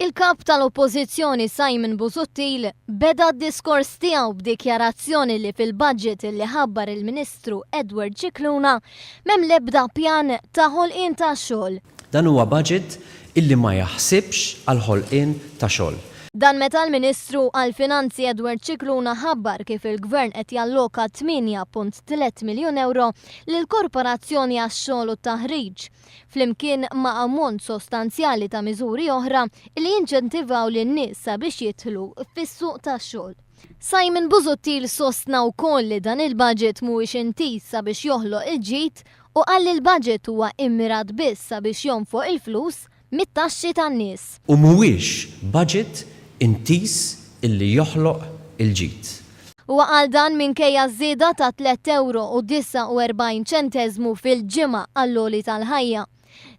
Il-Kap tal-Oppożizzjoni Simon Busuttil beda d-diskors tiegħu b'dikjarazzjoni li fil-budget li ħabbar il-Ministru Edward Scicluna m'hemm l-ebda pjan ta' ħolqien ta' xogħol. Dan huwa budget illi ma jaħsibx għall-ħolqien ta' xogħol. Dan meta l-Ministru għall-Finanzi Edward Scicluna ħabbar kif il-Gvern qed jalloka 8.3 miljun ewro lill-Korporazzjoni għax-Xogħol u t-Taħriġ, flimkien ma' ammont sostanzjali ta' miżuri oħra li jinċentivaw lin-nies sabiex jidħlu fis-suq tax-xogħol. Simon Busuttil sostna wkoll li dan il-budget mhuwiex intiż sabiex joħloq il-ġid u qal li l-budget huwa immirat biss sabiex jonfoq il-flus mit-taxxi tan-nies. U mhuwiex budget intiż illi joħloq il-ġid. Huwa qal dan minkejja ż-żieda ta' tliet ewro u 49 ċenteżmu fil-ġimgħa għall-għoli tal-ħajja.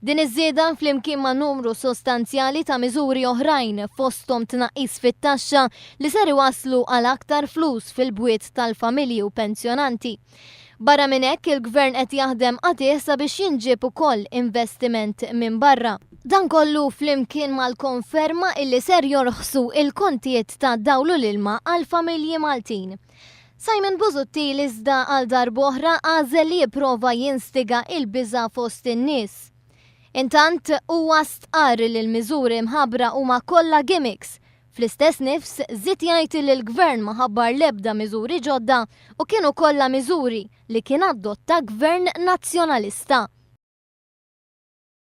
Din iż-żieda, flimkien ma' numru sostanzjali ta' miżuri oħrajn fosthom tnaqqis fit-taxxa li ser iwasslu għal aktar flus fil-bwiet tal-familji u pensjonanti, Barra minn hekk, il-Gvern qed jaħdem qatigħ sabiex jinġieb ukoll investiment minn barra. Dan kollu flimkien mal-konferma illi ser jorħsu il-kontijiet tad-dawl u l-ilma għall-familji Maltin. Simon Busuttil iżda għal darb'oħra għażel li jipprova jinstiga il-biża' fost in-nies. Intant, huwa stqarr li l-miżuri mħabbra huma kollha gimmicks Fl-istess nifs, żied jgħid li l-Gvern ma ħabbar l-ebda miżuri ġodda u kienu kollha miżuri li kien adotta Gvern Nazzjonalista.